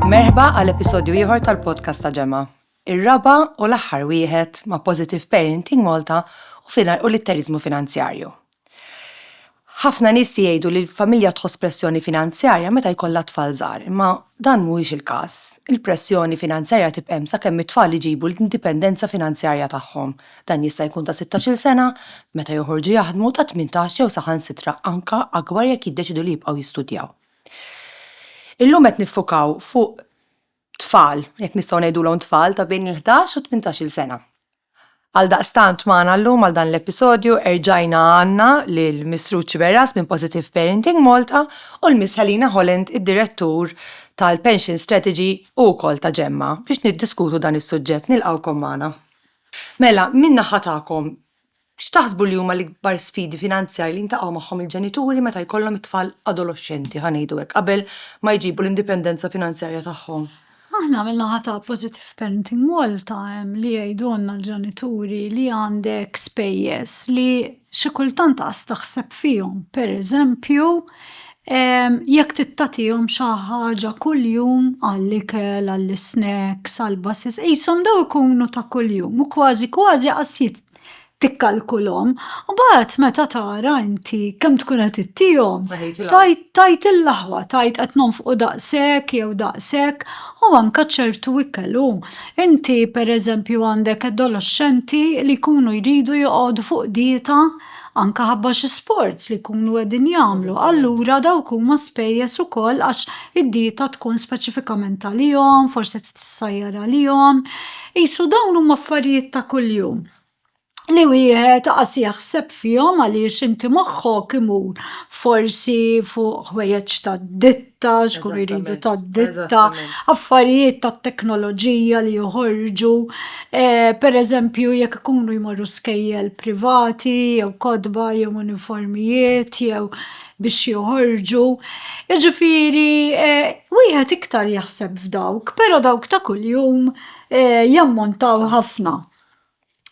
Merħba għal episodju ieħor tal-podcast ta' ġemma. Ir-raba u l-aħħar wieħed ma' Positive Parenting Malta u finar u litterizmu finanzjarju. Ħafna nies jgħidu li l-familja tħoss pressjoni finanzjarja meta jkollha tfal żgħar, imma dan mhuwiex il-każ. Il-pressjoni finanzjarja tibqem sakemm it-tfal iġibu l-indipendenza finanzjarja tagħhom. Dan jista' jkun ta' sittax-il sena meta joħorġu jaħdmu, ta' tmintax jew saħansitra anke akbar jekk jiddeċiedu li jibqgħu jistudjaw. Illum qed niffukaw fuq tfal, jekk nistgħu ngħidulhom tfal, ta' bejn il-ħdax u t-tmintax-il sena. Għaldaqstant magħna llum għal dan l-episodju erġajna għandna lil Miss Ruth Sciberras minn Positive Parenting Malta u l-Miss Helena Holland, id-Direttur tal-Pension Strategy u wkoll ta' Gemma biex niddiskutu dan is-suġġett. Nilqgħukom magħna. Mela, min-naħa tagħkom, x'taħsbu li huma l-ikbar sfidi finanzjarji li jiltaqgħu magħhom il-ġenituri meta jkollhom it-tfal adoloxxenti, ħa ngħidu hekk, qabel ma jġibu l-indipendenza finanzjarja tagħhom? Aħna min-naħa ta' Positive Parenting Malta hemm li jgħidulna l-ġenituri li għandek spejjeż li xi kultant qas taħseb fihom. Pereżempju, Jekk tittatihom xi ħaġa kuljum għall-ikel, għall-isnacks, għall-basis, qishom dawn ikunu ta' kuljum u kważi kważi qas tikkalkulhom. Imbagħad meta tara inti kemm tkun qed ittihom, tgħid il-aħwa, tgħid qed nonfqu daqshekk jew daqshekk u anke ċertu ikel hu. Inti pereżempju għandek adolexxenti li jkunu jridu joqogħdu fuq dieta. anke ħabba xi sforz li jkunu qegħdin jagħmlu, allura dawk huma spejjeż ukoll għax id-dieta tkun speċifikament għalihom, forsi tissajjar għalihom. Qisu dawn huma affarijiet ta' kuljum li wieħed qas jaħseb fihom għaliex inti moħħok imur forsi fuq ħwejjeġ tad-ditta. tax, kun jridu ta' ditta, affarijiet ta' teknoloġija li joħorġu, eh, per eżempju jekk ikunu jmorru skejjel privati, jew kodba, jew uniformijiet, jew biex joħorġu. Iġifiri, eh, wieħed iktar jaħseb f'dawk, pero dawk ta' kuljum, eh, jammontaw ħafna.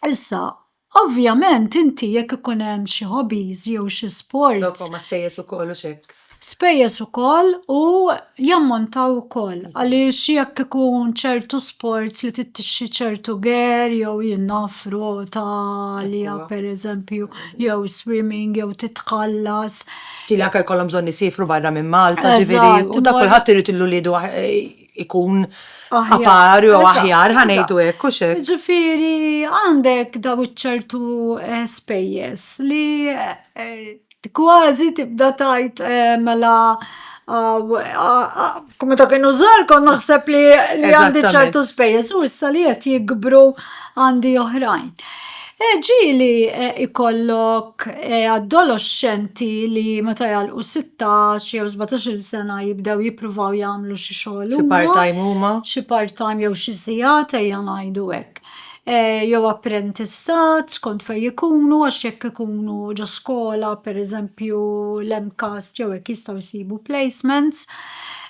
Issa, Ovvjament inti jekk ikun hemm xi hobbies jew xi sports. Dawk huma spejjeż ukoll u x'hekk. Spejjeż ukoll u jammontaw ukoll għaliex jekk ikun ċertu sports li trid tixtri ċertu gear jew jien naf rota għalija pereżempju jew swimming jew titħallas. Tilha anke jkollhom bżonn isiefru barra minn Malta ġifieri u dak kulħadd irid lil uliedu ikun apar jew aħjar ħanejdu hekk u xek. Ġifieri għandek daw iċ-ċertu eh, spejjeż li eh, kważi tibda tajt eh, mela Kumme ta' kienu zar kon naħseb li għandi ċertu spejjeż u issa li qed jikbru għandi oħrajn. Ġieli jkollok adoloxxenti li meta jagħlqu 16 jew 17-il sena jibdew jippruvaw jagħmlu xi xogħol huma. Xi part-time huma. Xi part-time jew xi sigħat ejja ngħidu hekk. Jew apprentistat skont fejn ikunu għax jekk ikunu ġo skola pereżempju l-MCAST jew hekk jistgħu jsibu placements.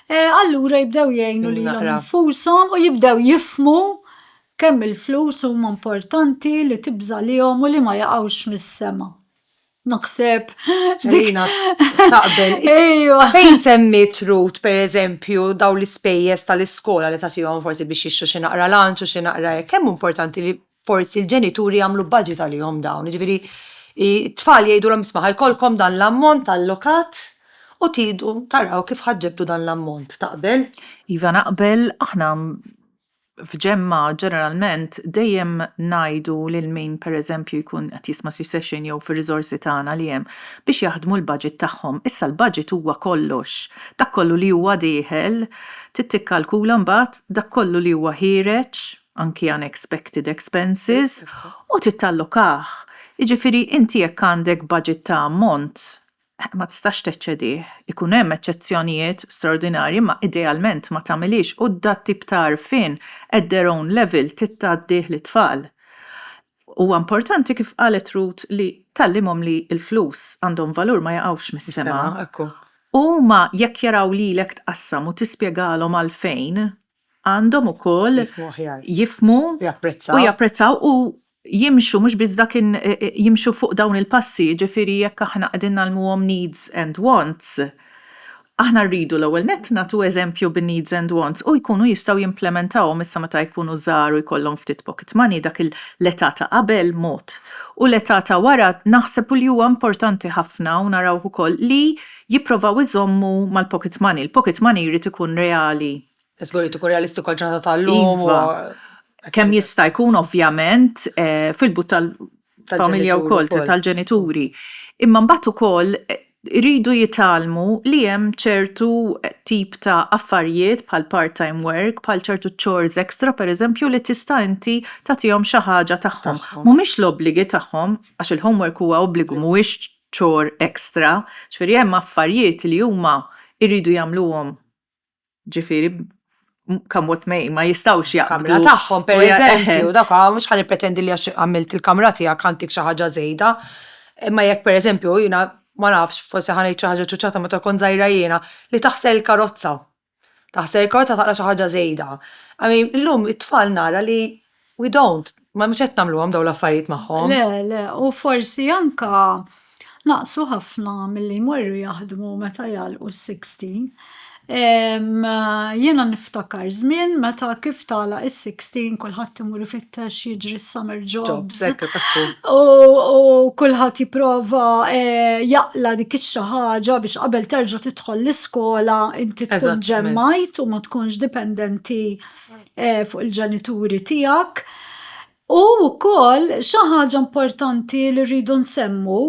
Allura jibdew jgħinu lilhom infushom u jibdew jifhmu Kemm il-flus huma importanti li tibżalihom u li ma jaqgħux mis-sema. Naħseb dik taqbel. Ejwa. Fejn semmiet Ruth pereżempju daw l-ispejjeż tal-iskola li tagħtihom forsi biex jixtru xi naqra lunch u xi naqra hekk, kemm hu importanti li forsi l-ġenituri jagħmlu budget għalihom dawn, jiġifieri t-tfal jgħidulhom isma' ħa jkollkom dan l-ammont allokat u tridu taraw kif ħa ġġibdu dan l-ammont. Taqbel? Iva naqbel, aħna f'ġemgħa ġeneralment dejjem ngħidu lil min pereżempju jkun qed jisma' xi session jew fir-riżorsi tagħna li hemm biex jaħdmu l-budget tagħhom. Issa l-budget huwa kollox. Dak kollu li huwa dieħel, trid tikkalkula mbagħad dak kollu li huwa ħiereġ, anki unexpected expenses, u trid tallokah. Jiġifieri inti jekk għandek budget ta' ammont, ma tistax teċċedih. Ikun hemm eċċezzjonijiet straordinarji imma idealment ma tagħmilhiex u dat tip ta' għarfien at their own level trid tgħaddih lit-tfal. Huwa importanti kif qalet Ruth li tgħallimhom li l-flus għandhom valur ma jaqgħux mis-sema u huma jekk jaraw lilek tqassam u tispjegalhom għalfejn għandhom ukoll jifhmu u japprezzaw u jimxu mhux biss dak jimxu fuq dawn il-passi, jiġifieri jekk aħna qegħdin ngħallmuhom needs and wants, aħna rridu l-ewwel nett nagħtu eżempju bin-needs and wants u jkunu jistgħu jimplementawhom issa meta jkunu żgħar u jkollhom ftit pocket money dak l-età ta' qabel mod u l-età ta' wara naħseb u li huwa importanti ħafna u narawh ukoll li jipprovaw iżommu mal-pocket money, il-pocket money jrid ikun reali. Żgur li tkun realistiku għall-ġurnata tal-lum. Iva. Kemm jista' jkun ovvjament eh, fil-but tal-familja wkoll tal-ġenituri. Imma mbagħad ukoll eh, iridu jitalmu li hemm ċertu eh, tip ta' affarijiet bħal part-time work, bħal ċertu chores extra pereżempju li tista' inti tagħtihom xi ħaġa tagħhom. Mhumiex l-obbligi tagħhom għax il-homework huwa obbligu mhuwiex chore extra, ġifieri hemm affarijiet li huma jridu jagħmluhom Ġifieri come what may, ma jistawx jaqbdu. Kamra tagħhom per eżempju, dak mhux ħan pretendi li għax għamilt il-kamra tiegħek għantik xi ħaġa żejda. Imma jekk per eżempju jiena ma nafx, forsi ħa ngħid xi ħaġa ċuċċata meta kont żgħira jiena, li taħsel il-karozza. Taħsel il-karozza taqla xi ħaġa żejda. I mean, illum it-tfal nara li we don't, ma mhux qed nagħmluhom dawn l-affarijiet magħhom. Le, le, u forsi anka naqsu ħafna milli jmorru jaħdmu meta jgħalqu s-16. Jiena niftakar żmien meta kif tala is-16 kulħadd imur ifittex jiġri s-summer jobs. U kulħadd jipprova eh, jaqla dik ix-xi ħaġa biex qabel terġa' tidħol l-iskola inti tkun ġemmajt u ma tkunx dipendenti fuq il-ġenituri tiegħek. U wkoll xi ħaġa importanti li rridu nsemmu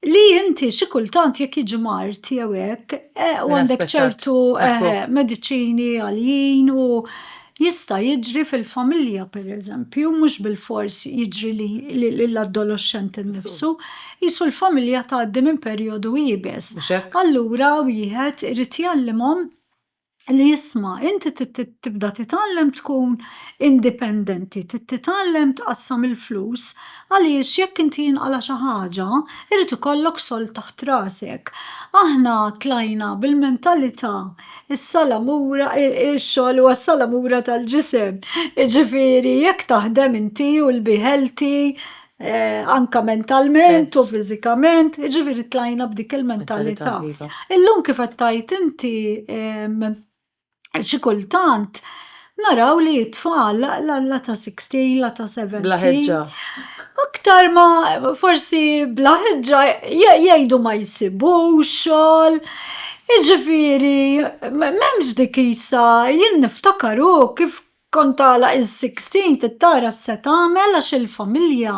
li inti xi kultant jekk jiġi mard jew hekk u għandek ċertu mediċini għaljin u jista' jiġri fil-familja pereżempju, mhux bilfors jiġri lill-adolexxent innifsu, qisu l-familja tgħaddi minn perjodu iebes. Allura wieħed irid jgħallimhom li isma' inti tibda titgħallem tkun indipendenti, trid titgħallem tqassam il-flus għaliex jekk inti jinqala' xi ħaġa irid ikollok sold taħt rasek. Aħna tlajna bil-mentalità is-salamura, ix-xogħol huwa s-salamura tal-ġisem, jiġifieri jekk taħdem inti u l-biħ healthy eh, anka mentalment u fiżikament, ġifiri tlajna b'dik il-mentalità. Iva. Illum kif qed tajt inti xi kultant naraw li t-tfal la ta' 16, la ta' 17. Blaħeġġa. Aktar ma forsi blaħeġġa jgħidu ma jisibu xogħol. Iġifiri, memx dik isa, jien niftakar u kif Kont tagħlaq is-sixteen trid tara x'se tagħmel għax il-familja,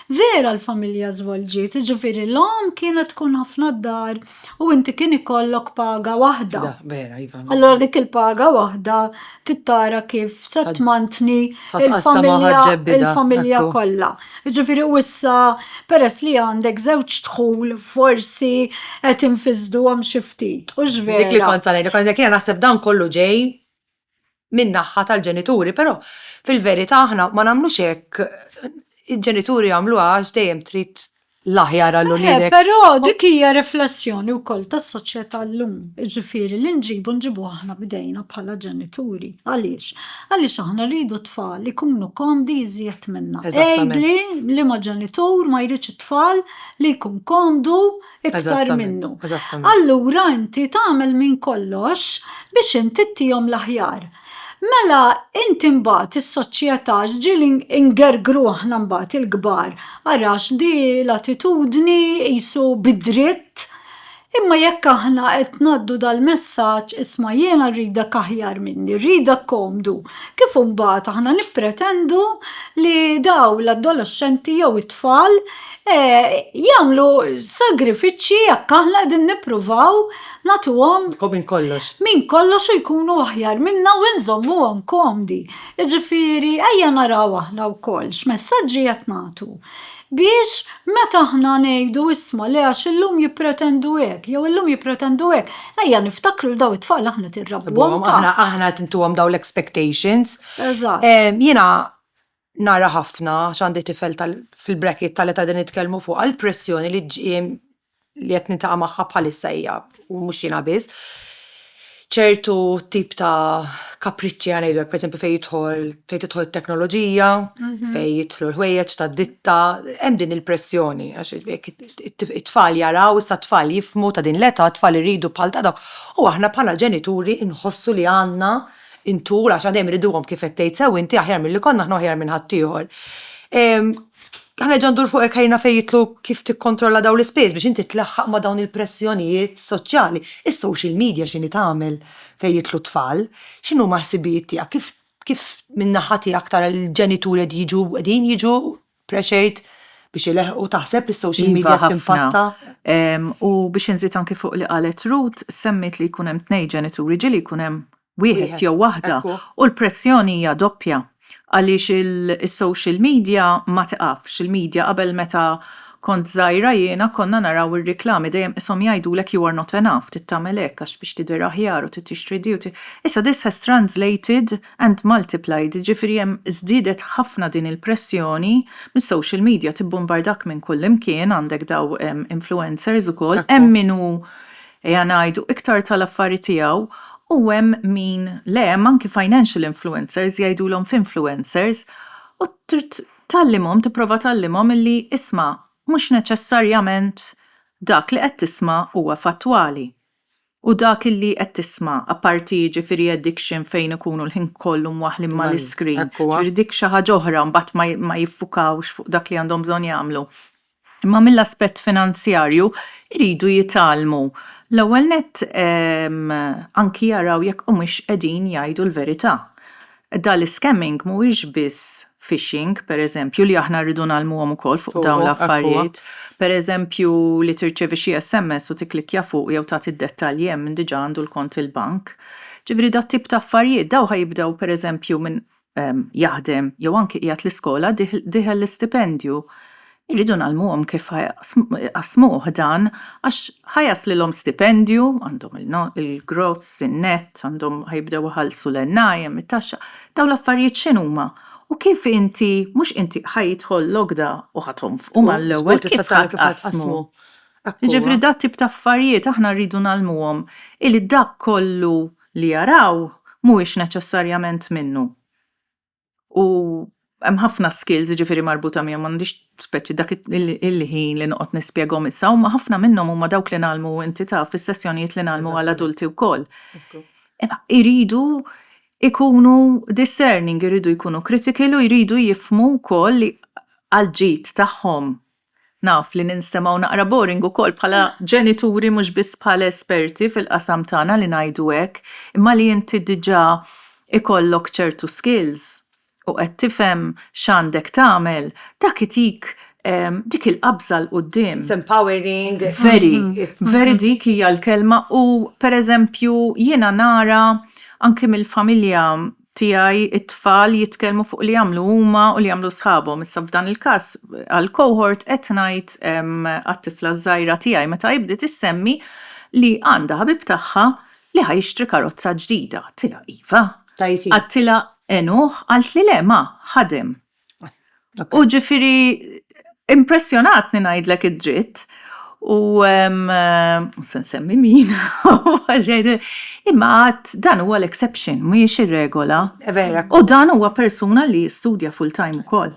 vera l-familja żvolġiet, jiġifieri l-omm kienet tkun ħafna d-dar u inti kien ikollok paga waħda. Allura dik il-paga waħda trid tara kif se tmantni l-familja kollha. Jiġifieri u issa peress li għandek żewġ dħul forsi qed infisduhom xi ftit, hux vera? Dik li kont se ngħidlek, jiena naħseb dan kollu ġej min-naħa tal-ġenituri, però fil-verità aħna ma nagħmlux hekk, il-ġenituri jagħmluha għax dejjem trid l-aħjar għal eh, uliedek. Però dik hija riflessjoni wkoll tas-soċjetà llum, jiġifieri li nġibu nġibu aħna bdejna bħala ġenituri. Għaliex? Għaliex aħna rridu tfal ikunu komdi jżjed minna. Ejdli li ma ġenitur ma jridx it-tfal li jkun komdu iktar minnu. Allura inti tagħmel minn kollox biex inti ttihom l-aħjar. Mela inti mbagħad is-soċjetà ġieli ngergru aħna mbagħad il-kbar arax di l-attitudni qisu bid-dritt imma jekk aħna qed ngħaddu dal-messaġġ isma' jiena rridek aħjar minni, rridek komdu, kif imbagħad aħna nippretendu li dawn l-adoloxxenti jew it-tfal jagħmlu sagrifiċċji jekk aħna qegħdin nippruvaw nagħtuhom minn kollox. Minn kollox u jkunu aħjar minna u nżommuhom komdi. Jiġifieri ejja naraw aħna wkoll x'messaġġi qed nagħtu biex meta aħna ngħidu isma' le għax illum jippretendu hekk, jew illum jippretendu hekk, ejja niftakru li daw it-tfal aħna tirrabbuhom. Aħna qed intuhom dawn l-expectations. Eżatt. Jiena nara ħafna għax għandi tifel tal- fil-bracket tal-età li qegħdin nitkellmu fuqha, l-pressjoni li ġġie li qed niltaqa' magħha bħalissa hija, u mhux jiena biss, ċertu tip ta' kapriċċi ħa ngħidu hekk, pereżempju fejn jidħol, fejn tidħol it-teknoloġija, fejn jidħlu l-ħwejjeġ tad-ditta, hemm din il-pressjoni għax jekk it-tfal jaraw, issa t-tfal jifhmu ta' din l-età, t-tfal iridu bħal ta' dawk, u aħna bħala ġenituri nħossu li għandna. intul għax għadejjem iriduhom kif qed tgħid sew inti aħjar milli konna aħna u aħjar minn ħaddieħor. Ħanerġa' ndur fuq hekk ħajrna fejn jitlu kif tikkontrolla dawn l-ispejjeż biex inti tlaħħaq ma' dawn il-pressjonijiet soċjali. Is-social media x'inhi tagħmel fejn jitlu t-tfal? X'inhuma l-ħsibijiet tiegħek? Kif kif min-naħa tiegħek tara l-ġenituri qed jiġu qegħdin jiġu Pressure biex ileħqu, taħseb li s-social media qed timpatta? U biex inżid anki fuq li qalet Ruth, semmiet li jkun hemm tnejn ġenituri, ġieli jkun hemm wieħed jew waħda u l-pressjoni hija doppja għaliex is-social media ma tiqafx, il-media qabel meta kont żgħira jiena konna naraw ir-riklami dejjem qishom jgħidulek you are not enough, trid tagħmel hekk għax biex tidher aħjar u trid tixtri di u trid, issa this has translated and multiplied, jiġifieri hemm żdiedet ħafna din il-pressjoni mis-social media, tibbumbardak minn kullimkien, għandek daw influencers ukoll, hemm min hu ejja ngħidu iktar tal-affari tiegħu u hemm min le, hemm anki financial influencers, jgħidulhom finfluencers, u trid tgħallimhom, tipprova tgħallimhom illi isma' mhux neċessarjament dak li qed tisma' huwa fattwali. U dak illi qed tisma', apparti jiġifieri addiction fejn ikunu l-ħin kollu mwaħħlin mal-iscreen, jiġifieri dik xi ħaġa oħra mbagħad ma jiffukawx fuq dak li għandhom bżonn jagħmlu. Imma mill-aspett finanzjarju jridu jitgħallmu l-ewwel nett anki jaraw jekk humiex qegħdin jgħidu l-verità. Dan l-iscamming mhuwiex biss phishing, pereżempju, li aħna rridu ngħallmuhom ukoll fuq dawn l-affarijiet. Pereżempju, li tirċievi xi sms u tikklikkja fuq jew tagħti d-dettalji hemm min diġà għandu l-kont il-bank. Ġifieri dat-tip ta' affarijiet, dawn ħa jibdew pereżempju minn jaħdem jew anki qiegħed l-iskola, diħel l-istipendju, Irridu ngħallmuhom kif ħa jqassmuh dan għax ħa jaslilhom stipendju, għandhom il-gross, in-nett, għandhom ħa jibdew iħallsu l-NI, it-taxxa, dawn l-affarijiet x'inhuma? U kif inti, mhux inti, ħa jidħol l-għoqda u ħa tonfqu mal-ewwel, kif ħa tqassmu? Jiġifieri dat tip ta' affarijiet aħna rridu ngħallmuhom illi dak kollu li jaraw mhuwiex neċessarjament minnu. U hemm ħafna skills jiġifieri marbuta miegħu m'għandix speċi dak il-ħin li noqgħod nispjegahom issa huma ħafna minnhom huma dawk li nagħlmu inti taf fis-sessjonijiet li nagħlmu għal adulti wkoll. Imma iridu ikunu discerning, iridu jkunu critical u jridu jifmu wkoll li għall-ġid tagħhom Naf li ninstemgħu naqra boring ukoll bħala ġenituri mhux biss bħala esperti fil-qasam tagħna li ngħidu hekk, imma li inti diġà ikollok ċertu skills u qed tifhem x'għandek tagħmel, dak itik dik il-qabża 'l quddiem. It's empowering. Very, very dik hija l-kelma u pereżempju jiena nara anki mill-familja, tiegħi t-tfal jitkellmu fuq li jagħmlu huma u li jagħmlu sħabhom. Issa f'dan il-każ għal cohort qed ngħid għat-tifla ż-żgħira tiegħi meta hi bdiet issemmi li għandha ħabib tagħha li ħa jixtri karozza ġdida. Għadtilha iva. Għadtilha għenuh, qaltli le ma, ħadem. U ġifiri, impressjonatni ngħidlek id-dritt, u mhux se nsemmi min, imma għad dan huwa l-exception, mhijiex ir-regola. U dan huwa persuna li jistudja full-time ukoll.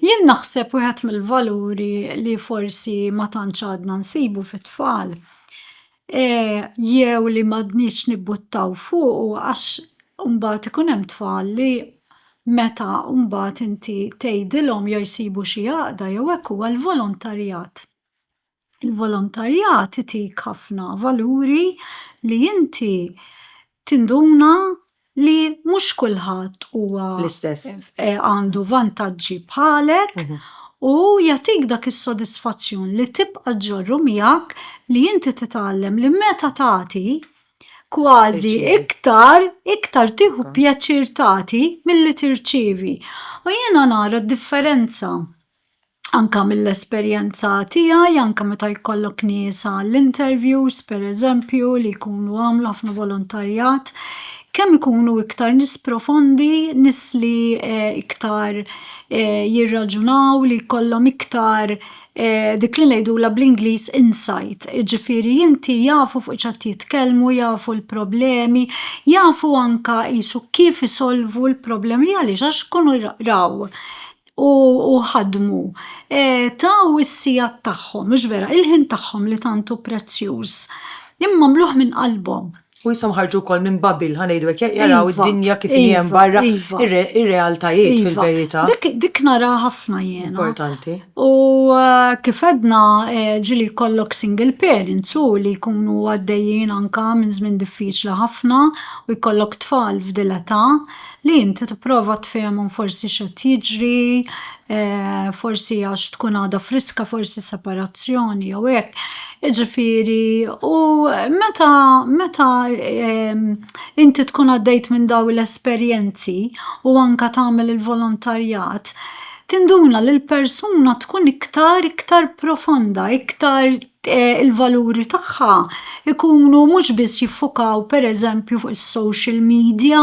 Jien naħseb wieħed mill-valuri li forsi ma tantx għadna nsibu fit-tfal jew li m'għadniex nibbuttaw fuqu għax imbagħad ikun hemm tfal li meta mbagħad inti tgħidilhom jew jsibu xi għaqda jew hekk huwa l-volontarjat. Il-volontarjat itik ħafna valuri li inti tinduna li mhux kulħadd huwa l-istess eh, għandu vantaġġi bħalek mhm. u jagħtik dak is-sodisfazzjon li tibqa' ġorru miegħek li inti titgħallem li meta tagħti kważi iktar, iktar tiħu pjaċir tagħti milli tirċivi. U jiena nara d-differenza anke mill-esperjenza tiegħi, anke meta jkollok nies għall-interviews, pereżempju, li jkunu għamlu ħafna volontarjat, kemm ikunu iktar nies profondi, nies li iktar jirraġunaw, li jkollhom iktar dik li ngħidulha bl-Ingliż insight, jiġifieri inti jafu fuq x'qed jitkellmu, jafu l-problemi, jafu anke qisu kif isolvu l-problemi għaliex għax ikunu raw. u ħadmu, taw is-sigħat tagħhom, mhux vera, il-ħin tagħhom li tant hu prezzjuż, imma għamluh minn qalbhom. U jisom ħarġu wkoll minn Babil, ħa ngħidu hekk, jaraw id-dinja kif inhi hemm barra, ir-realtajiet fil-verità. Dik naraha ħafna jiena. Importanti. U kif għedna, ġieli jkollok single parents u li jkunu għaddejjin anke minn żmien diffiċli ħafna u jkollok tfal f'dil età, Li inti tipprova tfehimhom forsi x'qed jiġri, forsi għax tkun għadha friska, forsi separazzjoni jew hekk. Jiġifieri u meta meta inti tkun għaddejt minn dawn l-esperjenzi u anke tagħmel il-volontarjat, tinduna li l-persuna tkun iktar iktar profonda, iktar il-valuri tagħha jkunu mhux biss jiffukaw pereżempju fuq is-social media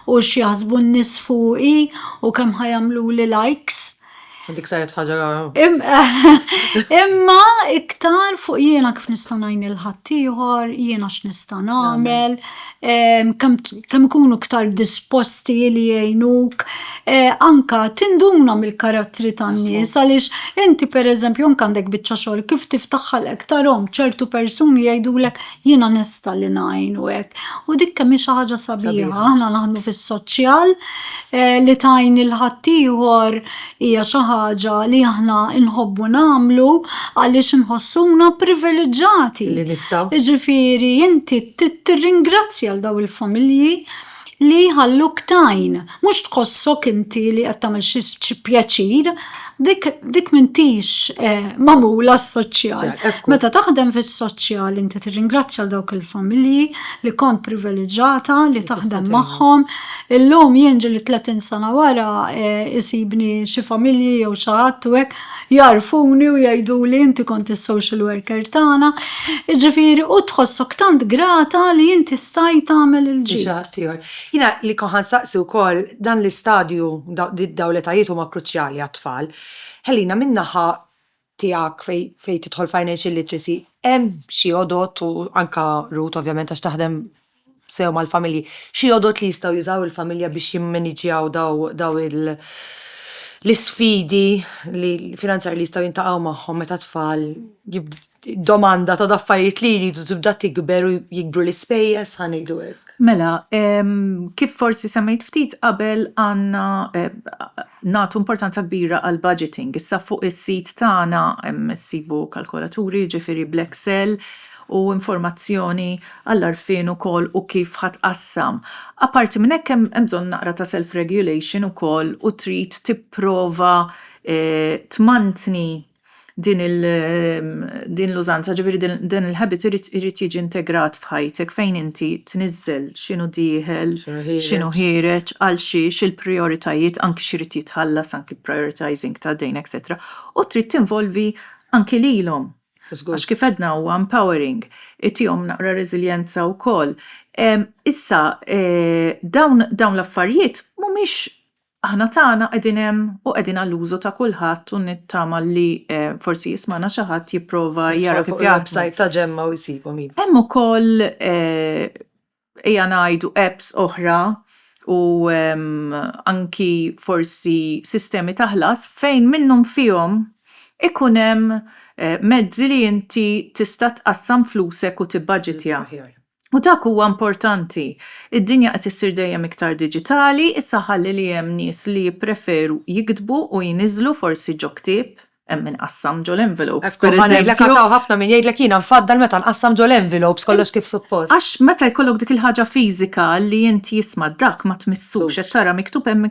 u x'jaħsbu n-nies fuqi u kemm ħa jagħmluli likes. Dik saret ħaġa rara. Imma iktar fuq jiena kif nista' ngħin lil ħaddieħor, jiena x'nista' nagħmel, kemm ikunu iktar disposti li jgħinuk, anka tinduna mill-karattri tan-nies għaliex inti pereżempju anke għandek biċċa xogħol kif tiftaħ ħalqek tarahom ċertu persuni jgħidulek jiena nesta li ngħin u hekk. U dik kemm hi xi ħaġa sabiħa, aħna naħdmu fis-soċjal li tgħin lil ħaddieħor hija xi ħaġa li aħna nħobbu nagħmlu għaliex inħossuna priviliġġati. Li nistgħu. Jiġifieri inti tirringrazzja għal dawn il-familji li jħalluk tgħin, mhux tħossok inti li qed tagħmel xi pjaċir, dik dik m'intix eh, magħmula s-soċjal. Meta taħdem fis-soċjal inti tirringrazzja għal dawk il-familji li kont priviliġġata li taħdem magħhom, Illum jien ġieli tletin sena wara isibni xi familji jew xi ħadd u hekk jagħrfuni u jgħiduli inti kont is-social worker tagħna, jiġifieri u tħossok tant grata li inti stajt tagħmel il-ġid. Xi ħadd ieħor. Jiena li kont ħa nsaqsi wkoll dan l-istadju, dawn l-etajiet huma kruċjali għat-tfal. Helena, minn naħa tiegħek fejn tidħol financial literacy hemm xi għodod u anke Ruth ovvjament għax taħdem sew mal-familji, xi għodod li jistgħu jużaw il-familja biex jimmaniġġjaw dawn l-isfidi finanzjarji li jistgħu jiltaqgħu magħhom meta t-tfal domanda ta' affarijiet li jridu tibda tikber u jikbru l-ispejjeż ħa ngħidu hekk. Mela, kif forsi semmejt ftit qabel għandna Nagħtu importanza kbira għall-budgeting. Issa fuq is-sit tagħna ssibu kalkolaturi, jiġifieri bl-Excel, u informazzjoni għall-għarfien ukoll u kif ħa tqassam. Apparti minn hekk hemm bżonn naqra ta' self-regulation ukoll u trid tipprova tmantni din il din l-użanza ġifieri dan il-habit irid irid jiġi integrat f'ħajtek fejn inti tniżżel x'inhu dieħel, x'inhu ħiereġ, għal xiex, il-prijoritajiet, anki x'irid jitħallas, anki prioritising ta' dejn etcetera, u trid tinvolvi anki lilhom. Għax kif għedna huwa empowering, itihom naqra reżiljenza wkoll. Issa dawn dawn l-affarijiet mhumiex Aħna tagħna qegħdin hemm u qegħdin għall-użu ta' kulħadd u nittama li forsi jismagħna xi ħadd jipprova jara kif jaħdmu. Website ta' Ġemma u jsibhom iva. Hemm ukoll ejja ngħidu apps oħra u anki forsi sistemi ta' ħlas fejn minnhom fihom ikun hemm mezzi li inti tista' tqassam flusek u tibbaġitja. U dak huwa importanti. Id-dinja qed issir dejjem iktar diġitali, issa ħalli li hemm nies li jippreferu jiktbu u jniżżlu forsi ġo ktieb, hemm min qassam ġo l-envelopes pereżempju. Ekk, u ħa ngħidlek għad hawn ħafna min jgħidlek jiena nfaddal meta nqassam ġo l-envelopes kollox kif suppost. Għax meta jkollok dik il-ħaġa fiżika li int jisma' dak ma tmissux, qed tara miktub hemm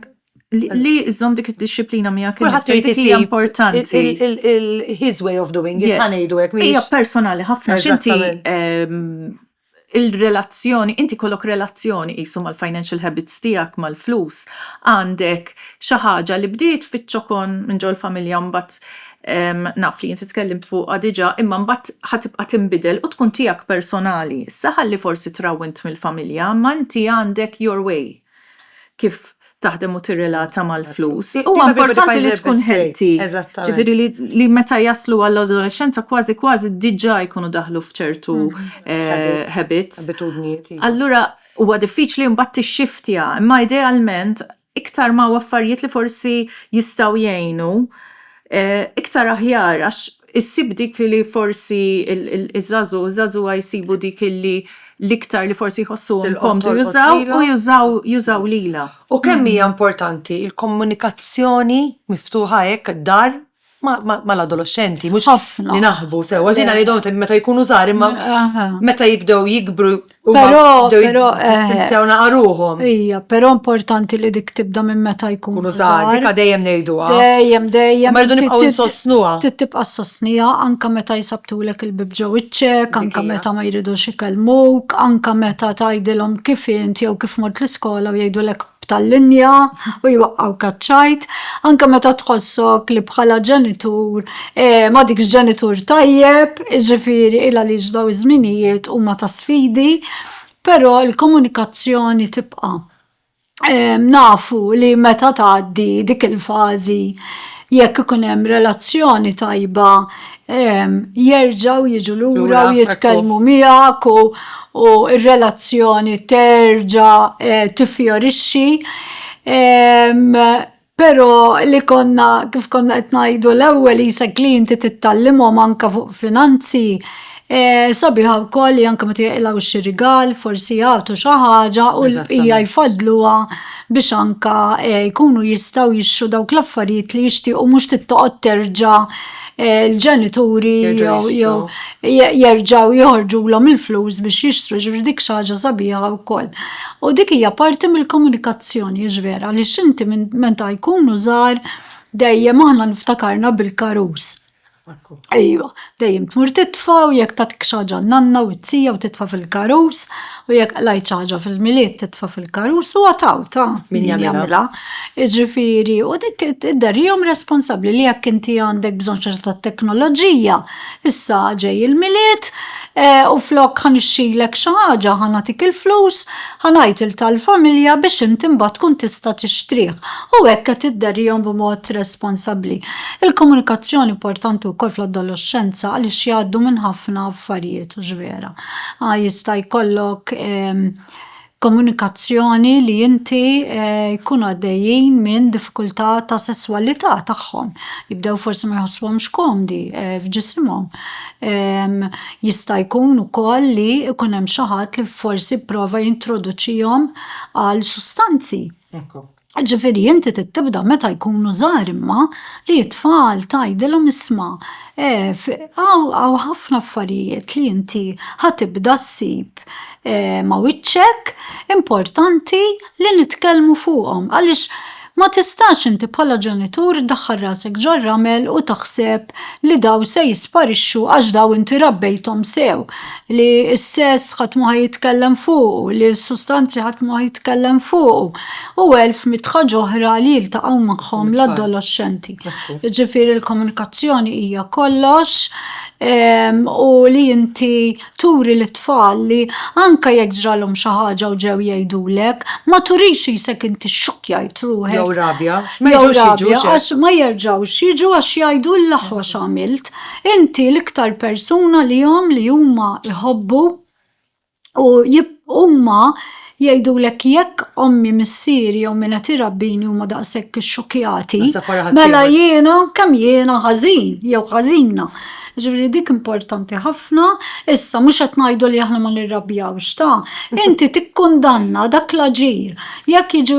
li żżomm dik id-disciplina miegħek. Kulħadd irid isir importanti. His way of doing it, ħanejdu hekk. Hija personali ħafna x'inti ehm, il-relazzjoni, inti kollok relazzjoni qisu mal-financial habits tiegħek, mal-flus, għandek xi ħaġa li bdiet fiċ-ċokon minn ġol familja mbagħad ehm, naf li inti tkellimt fuqha diġà, imma mbagħad ħatibqa' tinbidel u tkun tiegħek personali. Issa ħalli forsi trawwint mill-familja, ma inti għandek your way. kif taħdem u tirrelata mal-flus. Huwa importanti li tkun healthy. Ġifieri li meta jaslu għall-adolexxenza kważi kważi diġà jkunu daħlu f'ċertu mm-hmm. habits. Abitudnijiet. Iva. Allura huwa diffiċli mbagħad tixxiftja, imma idealment iktar ma affarijiet li forsi jistgħu jgħinu eh, iktar aħjar għax Issib dik li li forsi iż-żagħżugħ u żagħżugħa jsibu dik li l-iktar li forsi jħossuhom komdu jużaw u jużaw jużaw lilha. U kemm hija importanti l-komunikazzjoni miftuħa hekk dar mal-adoloxxenti, mhux li naħbu sewwa, jiena ngħidhom meta jkunu żgħar imma meta jibdew jikbru. Però, però. Eh, Distinzjawna għaruhom. Ija, però importanti li dik tibda minn meta jkun. Kunu zaħar, dika dejjem nejduha. Dejjem, dejjem. Ma rridu nibqgħu nsostnuha. Tibqa' sostnija anka meta jisabtulek il-bib ġew iċ-ċek, anka meta ma jridux ikellmuk, anka meta tgħidilhom kif int jew kif mort l-iskola u jgħidulek b'tal-linja u jwaqqgħu kaċċajt, anke meta tħossok li bħala ġenitur ma dikx ġenitur tajjeb, jiġifieri il għaliex daw iż-żminijiet huma ta' sfidi, però l-komunikazzjoni tibqa'. Nafu li meta tgħaddi dik il-fażi jekk ikun hemm relazzjoni tajba jerġaw jiġu lura u jitkellmu miegħek u r-relazzjoni terġa' eh, tifjorixxi. Però li konna kif konna qed ngħidu l-ewwel isek li inti tittallimhom anke fuq finanzi eh, sabiħa wkoll li anke meta jaqilgħu xi rigal, forsi jagħtu xi ħaġa u l-bqija jfaddluha biex anke eh, jkunu jistgħu jixtru dawk l-affarijiet li jixtiequ mhux tittoqgħod terġa' l-ġenituri jew jerġaw joħorġu l il-flus biex jixtru ġifri dik xaġa sabiħa u koll. U dik hija parti mill-komunikazzjoni ġvera li xinti minn meta jkunu żgħar dejjem aħna niftakarna bil-karus. Ejwa, dejjem tmur titfa u jekk tatik xaġa nanna u t-tija u titfa fil-karus. U jekk qlajt xi ħaġa fil-Milied titfa' fil-karus huwa taw ta' min jagħmilha. Jiġifieri, u dik idderrihom responsabbli li jekk inti għandek bżonn xi ta' teknoloġija, issa ġej il-Milied eh, u flok ħanixxilek xi ħaġa, ħanatik il-flus, ħanajt il tal-familja biex inti mbagħad tkun tista' tixtrih. U hekk qed idderrihom b'mod responsabbli. Il-komunikazzjoni importanti wkoll fl-adolescenza għaliex jgħaddu minn ħafna affarijiet u vera. Jista' jkollok komunikazzjoni li inti jkunu għaddejjin minn diffikultà ta' sesswalità tagħhom. Jibdew forsi ma jħossuhomx komdi f'ġisimhom. Jista' jkun ukoll li jkun hemm xi ħadd li forsi pprova jintroduċihom għal sustanzi. Ġifiri, inti tibda meta jkunu żgħar imma li t-tfal tgħidilhom isma' għaw ħafna affarijiet li inti ħatibda ssib ma' wiċċek importanti li nitkellmu fuqhom għaliex ma tistax inti bħala ġenitur ddaħħal rasek ġar-ramel u taħseb li daw se jisparixxu għax daw inti rabbejthom sew, li s-sess ħadd mhu ħa jitkellem fuqu, li s-sustanzi ħadd mhu ħa jitkellem fuqu. u elf mitħa ġohra li jiltaqgħu magħhom l-adolexxenti. Ġifieri l-komunikazzjoni hija kollox ehm, u li inti turi l tfal li anka jekk ġralhom xi ħaġa u ġew jgħidulek, ma turix isek inti xukjajt ruħek. Jew rabja, għax ma jerġgħux jiġu għax jgħidu l-aħwa x'għamilt. Inti l-iktar persuna li jom li huma jħobbu U huma jgħidulek jekk ommi missieri jew minn qed irabbini huma daqshekk ixxukjati, mela jiena kemm jiena ħażin jew ħażina. Ġifieri dik importanti ħafna, issa mhux qed ngħidu li aħna ma nirrabjawx ta', inti tikkundanna dak l-aġir. Jekk jiġu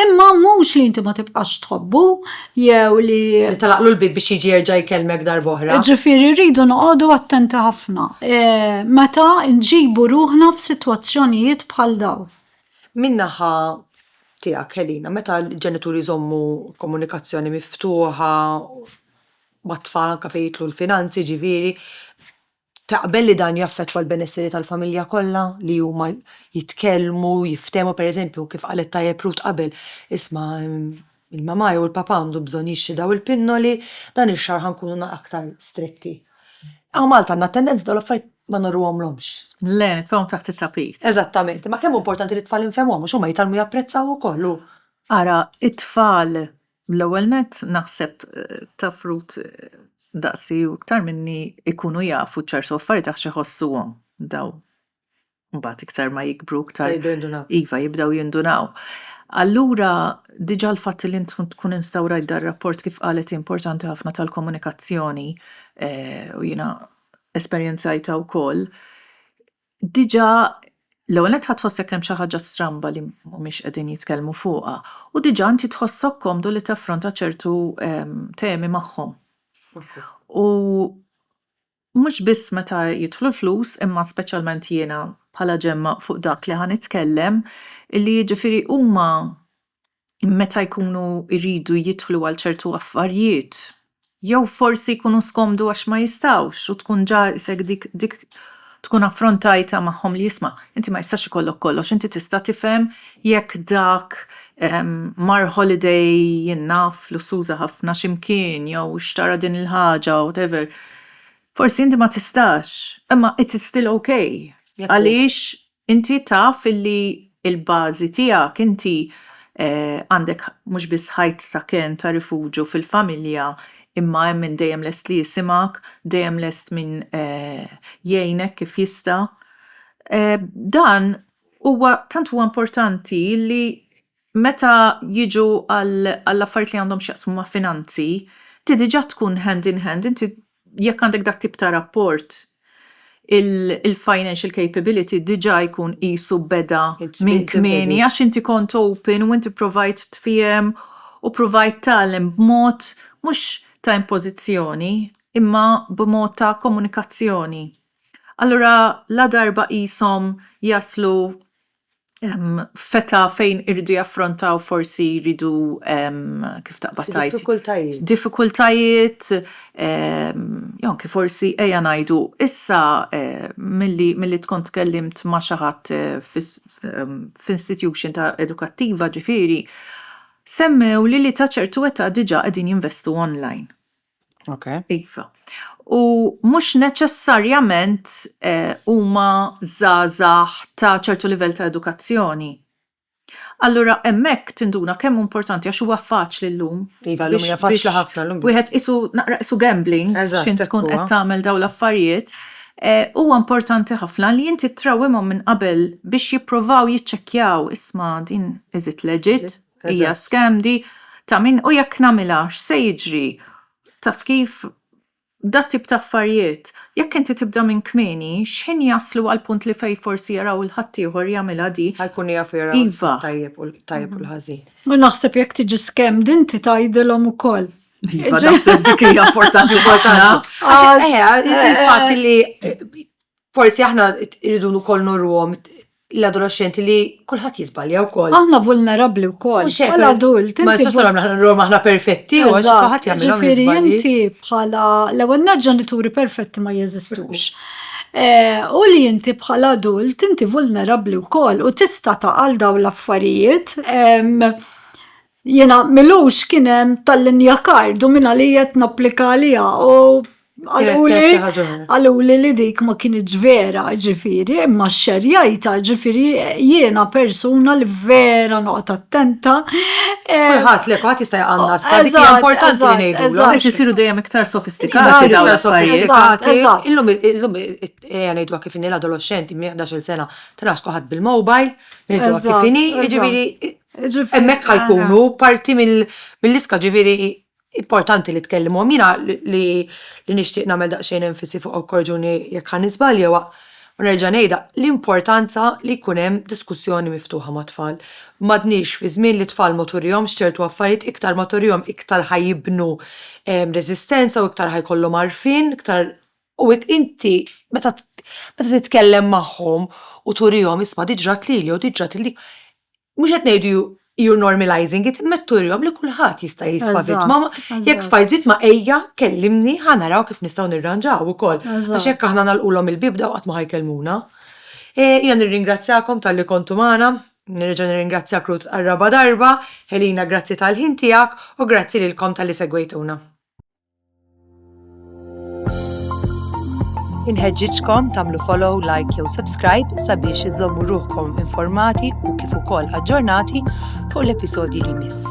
Imma mhux li inti ma tibqax tħobbu jew li. Telaqlu l-bieb biex jiġi jerġa' jkellmek darb'oħra. Ġifieri rridu noqogħdu attenti ħafna meta nġibu ruħna f'sitwazzjonijiet bħal dawn. Min-naħa tiegħek Helena, meta l-ġenituri jżommu komunikazzjoni miftuħa mat-tfal anke fejn jidħlu l-finanzi ġifieri, Taqbel li dan jaffettwa l-benesseri tal-familja kollha li huma jitkellmu, jiftehmu, pereżempju, kif qalet tajjeb Ruth qabel, isma' l-mamà jew il-papà għandu bżonn jixtri dawn il-pinnoli, dan ix-xahar ħa nkunu aktar stretti. Hawn Malta għandna t-tendenza li dawn l-affarijiet ma ngħorruhomlhomx. Le, nitfgħuhom taħt it-tapit. Eżattament, imma kemm hu importanti li t-tfal infehmuhom għax huma jitgħallmu japprezzaw ukoll u. Ara, it-tfal L-ewwel nett, naħseb taf Ruth daqsi u iktar minni ikunu jafu ċertu affarijiet għax iħossuhom dawn. Mbagħad iktar ma jikbru iktar iva jibdew jindunaw. Allura diġà l-fatt li int tkun instawrajt dar rapport kif qalet hi importanti ħafna tal-komunikazzjoni u jiena esperjenzajtha wkoll, diġà l-ewwel nett ħa tħossek hemm xi ħaġa stramba li mhumiex qegħdin jitkellmu fuqha, u diġà inti tħossok komdu li taffronta ċertu temi magħhom. U mhux biss meta jidħlu l-flus imma speċjalment jiena bħala Ġemma fuq dak li ħa nitkellem, illi jiġifieri huma meta jkunu jridu jidħlu għal ċertu affarijiet, jew forsi jkunu skomdu għax ma jistgħux u tkun ġa isek dik dik tkun affrontajtha magħhom li isma' inti ma jistax ikollok kollox, inti tista' tifhem jekk dak mar holiday naf lussuża ħafna xi mkien jew xtara din il-ħaġa whatever. Forsi inti ma tistax, imma it's still ok għaliex Inti taf illi l-bażi tiegħek inti għandek mhux biss ħajt ta' kenn ta' rifuġju fil-familja imma hemm min dejjem lest li jisimgħek, dejjem lest min jgħinek kif jista'. Dan huwa tant huwa importanti li Meta jiġu għall-affarijiet li għandhom x'jaqsmu ma' finanzi, inti diġà tkun hand in hand, inti jekk għandek dat tip ta' rapport il-financial capability diġà jkun qisu beda minn kmieni għax inti kont open u inti provajt tfiehem u provajt tgħallem b'mod mhux ta' impożizzjoni imma b'mod ta' komunikazzjoni. Allura ladarba qishom jaslu feta fejn iridu jaffrontaw forsi jridu kif taqbad tajt diffikultajiet. Diffikultajiet jew kif forsi ejja ngħidu issa milli milli tkun tkellimt ma' xi ħadd f'institution ta' edukattiva ġifieri semmewli li ta' ċertu età diġà qegħdin jinvestu online. Okay. Iva. U mhux neċessarjament eh, huma eh, żgħażagħ ta' ċertu livell ta' edukazzjoni. Allura hemmhekk tinduna kemm importanti għax huwa faċli llum. Iva, llum hija faċli ħafna llum. Wieħed isu naqra isu gambling x'int tkun qed tagħmel dawn l-affarijiet. Eh, huwa importanti ħafna li inti trawimhom minn qabel biex jippruvaw jiċċekkjaw isma' din iżid leġit Hija scam di ta' min u jekk nagħmilha x'se jiġri? Taf kif? Dat tip ta' affarijiet, jekk inti tibda minn kmieni, x'ħin jaslu għall-punt li fejn forsi jaraw il ħaddieħor jagħmilha di? Ħa jkunu jafu jaraw it-tajjeb u t-tajjeb u l-ħażin. U naħseb jekk tiġi scammed inti tgħidilhom ukoll. Iva naħseb dik hija importanti ħafna. Għax il-fatt li Forsi aħna rridu wkoll norruhom l-adolexxenti li kulħadd jiżbalja wkoll. Aħna vulnerabbli wkoll. Bħala adult, ma jistax nagħmlu aħna nagħmlu aħna perfetti, u għax kulħadd jagħmel Ġifieri inti bħala l-ewwel nett ġenituri perfetti ma jeżistux. Eh, u li inti bħala adult inti vulnerabbli wkoll u tista' taqal dawn l-affarijiet Jiena milux kien hemm tal-linja kard u minn għalija qed napplika għaliha u għaluli li dik ma kienieġ vera ġifiri, imma xerjajta ġifiri jiena persuna li vera noqgħod attenta. Ħadd li ħadd jista' jqanna s-sadi importanti li ngħidu. Eżatt, isiru dejjem iktar sofistikati dawn l-affarijiet. Illum illum ngħidu kif inhi l-adolexxenti minn 11 sena trax kulħadd bil-mobile, ngħidu kif inhi, ġifiri Hemmhekk ħa jkunu parti mill-lista, ġifieri importanti li tkellimhom. Jiena li nixtieq nagħmel daqsxejn enfasi fuq, u korreġuni jekk ħa niżbalja, huwa u nerġa' ngħidha, l-importanza li jkun hemm diskussjoni miftuħa mat-tfal. M'għadniex fi żmien li t-tfal ma turihomx ċertu affarijiet, iktar ma turihom iktar ħa jibnu reżistenza u iktar ħa jkollhom għarfien, iktar U hekk inti meta meta titkellem magħhom u turihom isma' dik ġrat lili u dik ġrat lili, mhux qed ngħidu you are normalizing it, imma qed turihom li kulħadd jista' jisfa' vittma. Jekk sfajt vittma ejja kellimni ħa naraw kif nistgħu nirranġaw ukoll. Għax jekk aħna nagħlqulhom il-bieb daw qatt ma ħa jkellmuna. Jiena nirringrazzjakom talli kontu magħna, nerġa' nirringrazzjak Ruth għar-raba' darba, Helena grazzi tal-ħin tiegħek u grazzi lilkom talli segwejtuna. Inħeġġiġkom tagħmlu follow, like jew subscribe sabiex iżommu ruħkom informati u kif ukoll aġġornati fuq l-episodji li miss.